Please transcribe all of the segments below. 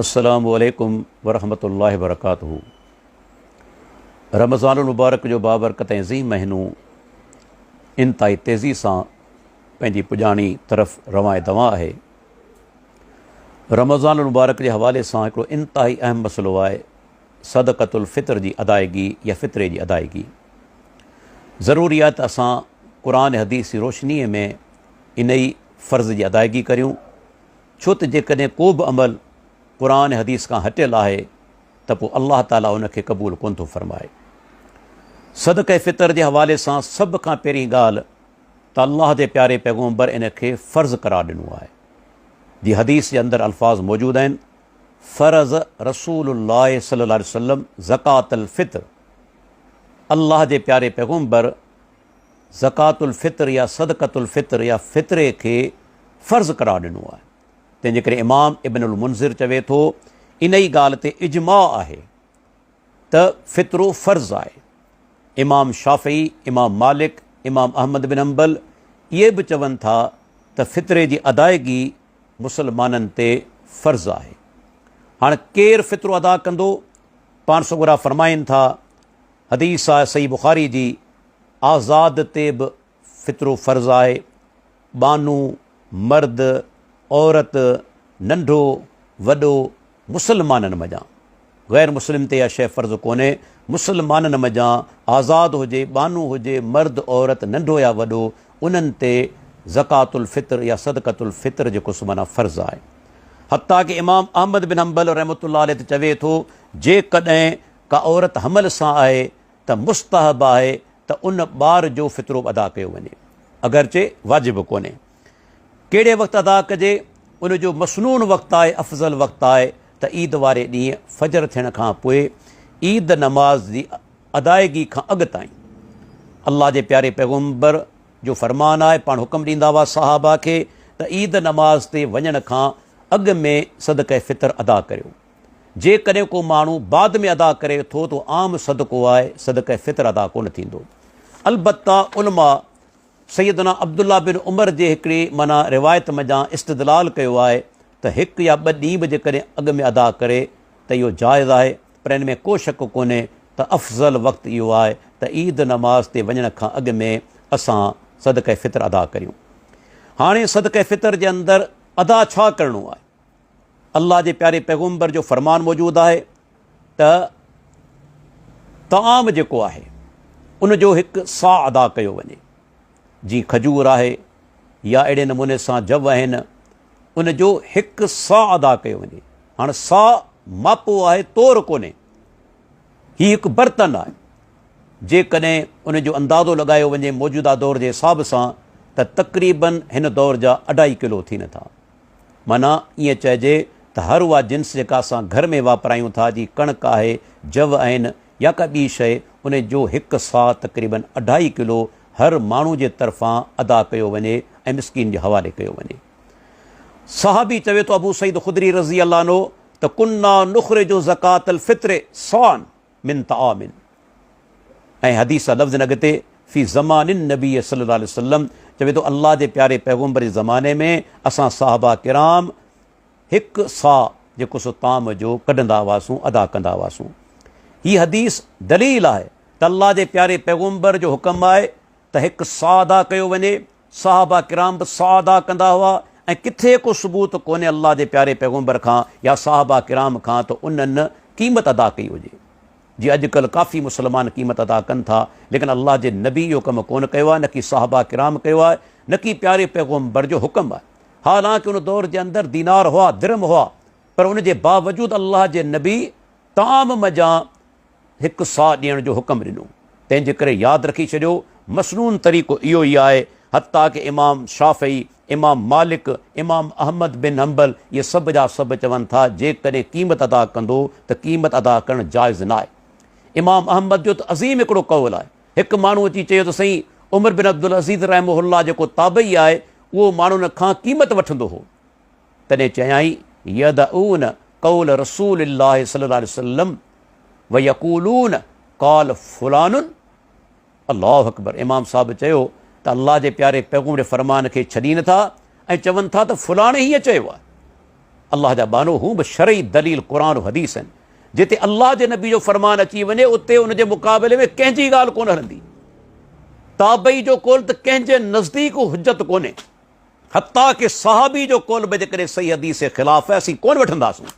السلام عليڪم ورحمة الله وبرڪاته رمضان المبارڪ جو بابرڪت ۽ عظيم مهينو انتهائي تيزي سان پنهنجي پڄاڻي طرف روان دوان آهي رمضان المبارڪ جي حوالي سان هڪڙو انتهائي اهم مسئلو آهي صدقت الفطر جي ادائيگي يا فطري جي ادائيگي ضروري آهي ته اسان قرآن حديث جي روشني ۾ انهي فرض جي ادائيگي ڪريون ڇو ته جيڪڏهن ڪو به عمل قرآن ۽ حديث کان هٽيل آهي ته پوء الله تعاليٰ ان کي قبول ڪونه ٿو فرمائي. صدقه فطر جي حوالي سان سڀ کان پهرين ڳالهه ته الله جي پياري پيغمبر ان کي فرض قرار ڏنو آهي. جي حديث جي اندر الفاظ موجود آهن، فرض رسول الله صلي الله عليه وسلم زڪوة الفطر الله جي پياري پيغمبر زڪوات الفطر يا صدقة الفطر يا فطري کي فرض قرار ڏنو آهي، تنهن جي ڪري امام ابن المنذر چوي ٿو، انهي ڳالهه تي اجماع آهي ته فطرو فرض آهي، امام شافعي، امام مالڪ، امام احمد بن حنبل اهي به چون ٿا ته فطري جي ادائگي مسلمانن تي فرض آهي، هاڻ ڪير فطرو ادا ڪندو؟ پاڻ سڳورا فرمائين ٿا. حديث آهي صحيح بخاري جي، آزاد تي به فطرو فرض آهي، ٻانهو، مرد، عورت، ننڍو، وڏو، مسلمانن منجهان، غير مسلم تي اها شيء فرض ڪونهي، مسلمانن منجهان آزاد هجي، ٻانهو هجي، مرد، عورت، ننڍو يا وڏو، انهن تي زڪوة الفطر يا صدقة الفطر جيڪو سو معنيٰ فرض آهي. حتيٰ ڪه امام احمد بن حنبل رحمة الله عليه ته چوي ٿو، جيڪڏهن ڪا عورت حمل سان آهي ته مستحب آهي ته ان ٻار جو فطرو به ادا ڪيو وڃي اگرچه واجب ڪونهي. ڪهڙي وقت ادا ڪجي؟ ان جو مسنون وقت آهي افضل وقت آهي ته عيد واري ڏينهن فجر ٿيڻ کان پوء عيد نماز جي ادائيگي کان اڳ تائين. الله جي پياري پيغمبر جو فرمان آهي پاڻ حڪم ڏيندا هئا صحابه کي ته عيد نماز تي وڃڻ کان اڳ ۾ صدقه فطر ادا ڪريو. جيڪڏهن ڪو ماڻهو بعد ۾ ادا ڪري ٿو ته عام صدقو آهي، صدقه فطر ادا ڪونه ٿيندو. البته علماء سيدنا عبدالله بن عمر جي هڪڙي معنيٰ روايت منجهان استدلال ڪيو آهي ته هڪ يا ٻه ڏينهن به جيڪڏهن اڳ ۾ ادا ڪري ته اهو جائز آهي پر ان ۾ ڪو شڪ ڪونهي ته افضل وقت اهو آهي ته عيد نماز تي وڃڻ کان اڳ ۾ اسان صدقه فطر ادا ڪريون. هاڻي صدقه فطر جي اندر ادا ڇا ڪرڻو آهي؟ الله جي پياري پيغمبر جو فرمان موجود آهي ته طعام جيڪو آهي ان جو هڪ سا ادا ڪيو وڃي جي کجور آهي يا اهڙي نموني سان جب آهن ان جو هڪ سا ادا ڪيو وڃي هاڻ سا ماپو آهي تور ڪونهي هي هڪ برتن آهي جيڪڏهن ان جو اندازو لڳايو وڃي موجوده دور جي حساب سان ته تقريبن هن دور جا اڍائي ڪلو ٿين ٿا معنيٰ ائين چئجي ته هر اها جنس جيڪا اسان گهر ۾ واپرايون ٿا، جي ڪڻڪ آهي، جوء آهن يا ڪا ٻي شيء، ان جو هڪ ساء تقريباً اڍائي ڪلو هر ماڻهو جي طرفان ادا ڪيو وڃي ۽ مسڪين جي حوالي ڪيو وڃي. صحابي چوي ٿو ابو سعيد خدري رضي الله عنه ته ڪنا نخرج زڪوة الفطر صاعًا. من طعام ۽ حديث جا لفظ ۽ اڳتي في زمان النبي صلي الله عليه وسلم چوي ٿو الله جي پياري پيغمبر جي زماني ۾ اسان صحابه ڪرام هڪ صاع جيڪو سو طعام جو ڪڍندا هئاسون ادا ڪندا هئاسون هي حديث دليل آهي ته الله جي پياري پيغمبر جو حڪم آهي ته هڪ صاع ادا ڪيو وڃي صحابه ڪرام به سعادٰ ڪندا هئا ۽ ڪٿي ڪو ثبوت ڪونهي الله جي پياري پيغمبر کان يا صحابه ڪرام کان ته انهن قيمت ادا ڪئي هجي جي اڄڪلهه ڪافي مسلمان قيمت ادا ڪن ٿا ليڪن الله جي نبي اهو ڪم ڪونه ڪيو آهي نڪي صحابه ڪرام ڪيو آهي نڪي پياري پيغمبر جو حڪم آهي حالانڪ ان دور جي اندر دينار هئا درم هئا پر ان جي باوجود الله جي نبي طعام مجان هڪ ساهه ڏيڻ جو حڪم ڏنو، تنهن جي ڪري ياد رکي ڇڏيو مسنون طريقو اهو ئي آهي، حتيٰ ڪه امام شافعي، امام مالڪ، امام احمد بن حنبل اهي سڀ جا سڀ چون ٿا جيڪڏهن قيمت ادا ڪندو ته قيمت ادا ڪرڻ جائز نه آهي. امام احمد جو ته عظيم هڪڙو قول آهي، هڪ ماڻهو اچي چيو ته سائين عمر بن عبدالعزيز رحمه الله جيڪو تابعي آهي اهو ماڻهن کان قيمت وٺندو هو، تڏهن چيائين، يدعون قول رسول الله صلي الله عليه وسلم ويقولون قال فلان الله اڪبر امام صاحب چيو ته الله جي پياري پيغمبر جي فرمان کي ڇڏي نٿا ۽ چون ٿا ته فلاڻي هيئن چيو آهي الله جا بانو هو به شرعي دليل قرآن و حديث آهن جتي الله جي نبي جو فرمان اچي وڃي اتي ان جي مقابلي ۾ ڪنهن جي ڳالهه ڪونه هلندي تابعي جو قول ته ڪنهن جي نزديڪ حجت ڪونهي حتيٰ ڪه صحابي جو قول به جيڪڏهن صحيح حديث جي خلاف آهي اسين ڪونه وٺنداسون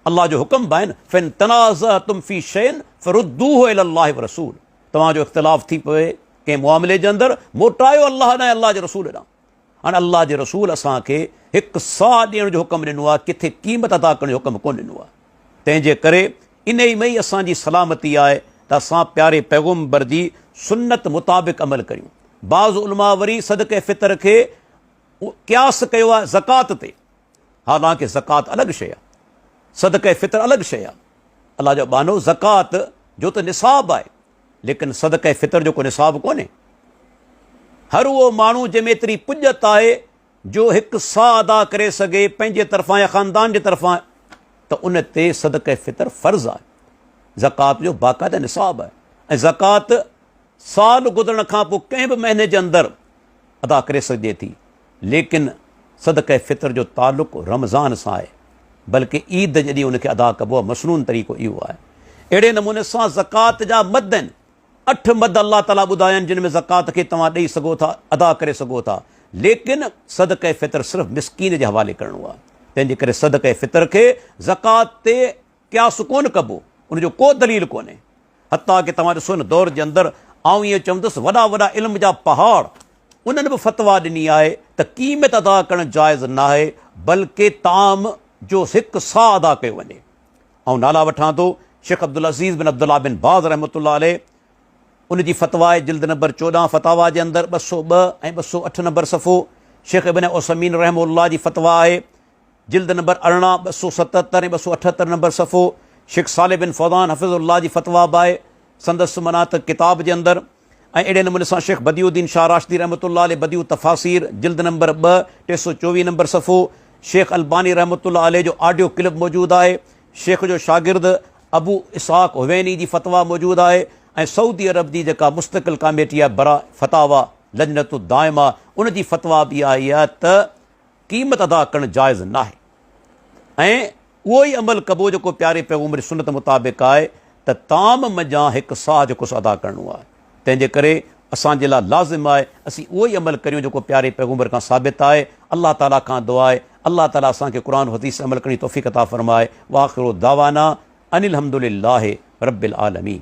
الله جو حڪم به آهن فن تنازعتم في شين فردوه الى الله ورسول توهان جو اختلاف ٿي پوي ڪنهن معاملي جي اندر موٽايو الله ڏانهن الله جي رسول ڏانهن هاڻي الله جي رسول اسان کي هڪ ساهه ڏيڻ جو حڪم ڏنو آهي ڪٿي قيمت ادا ڪرڻ جو حڪم ڪونه ڏنو آهي تنهن جي ڪري انهي ۾ ئي اسان جي سلامتي آهي ته اسان پياري پيغمبر جي سنت مطابق عمل ڪريون. بعض علماء وري صدقه فطر کي قياس ڪيو آهي زڪوات تي، حالانڪه زڪوات الڳ شيء آهي، صدقه فطر الڳ شيء آهي. الله جو ٻانهو زڪوات جو ته نصاب آهي، ليڪن صدقه فطر جو ڪو نصاب ڪونهي. هر اهو ماڻهو جنهن ۾ ايتري پڄت آهي جو هڪ ساهه ادا ڪري سگهي پنهنجي طرفان يا خاندان جي طرفان ته ان تي صدقه فطر فرض آهي زڪوات جو باقاعده نصاب آهي ۽ زڪوات سال گذرڻ کان پوء ڪنهن به مهيني جي اندر ادا ڪري سگهجي ٿي ليڪن صدقه فطر جو تعلق رمضان سان آهي بلڪه عيد جڏهن ان کي ادا ڪبو آهي مصنون طريقو اهو آهي اهڙي نموني سان زڪوات جا مد آهن اٺ مد الله تعاليٰ ٻڌايا آهن جن ۾ زڪوات کي توهان ڏئي سگهو ٿا، ادا ڪري سگهو ٿا، ليڪن صدقه فطر صرف مسڪين جي حوالي ڪرڻو آهي، تنهنجي ڪري صدقه فطر کي زڪوات تي قياس ڪونه ڪبو، ان جو ڪو دليل ڪونهي، حتيٰ ڪه توهان ڏسو هن دور جي اندر آئون ائين چوندس وڏا وڏا علم جا پهاڙ انهن به فتويٰ ڏني آهي ته قيمت ادا ڪرڻ جائز ناهي بلڪه طعام جو هڪ صاع ادا ڪيو وڃي. آئون نالا وٺان ٿو، شيخ عبدالعزيز بن عبدالله بن باز رحمة الله عليه ان جي فتويٰ جلد نمبر چوڏهن فتاويٰ جي اندر ٻه سؤ ٻه ۽ ٻه سؤ اٺ نمبر صفحو، شيخ ابن عثيمين رحمه الله جي فتويٰ آهي، جلد نمبر ارڙهن ٻه سؤ ستهتر ۽ ٻه سؤ اٺهتر نمبر صفحو، شيخ صالح بن فوزان حفظه الله جي فتويٰ به آهي سندس معنيٰ ته ڪتاب جي اندر. ۽ اهڙي نموني سان شيخ بديع الدين شاهه راشدي رحمة الله عليه بديع التفاسير جلد نمبر ٻه ٽي سؤ چوويهه نمبر صفحو شيخ الباني رحمة الله عليه جو آڊيو ڪلپ موجود آهي شيخ جو شاگرد ابو اسحاق حويني جي فتويٰ موجود آهي ۽ سعودي عرب جي جيڪا مستقل ڪاميٽي آهي برا فتاويٰ لجنة الدائمة ان جي فتويٰ به آهي ته قيمت ادا ڪرڻ جائز ناهي ۽ اهو ئي عمل ڪبو جيڪو پياري پيغمبر جي سنت مطابق آهي ته طعام منجهان هڪ صاع جو ڪس ادا ڪرڻو آهي تنهن جي ڪري اسان جي لاء لازم آهي اسين اهو ئي عمل ڪريون جيڪو پياري پيغمبر کان ثابت آهي الله تعالي کان دعا آهي الله تعالي اسان کي قرآن و حديث عمل ڪرڻ جي توفيق عطا فرمائي واخر دعوانا ان الحمد لله رب العالمين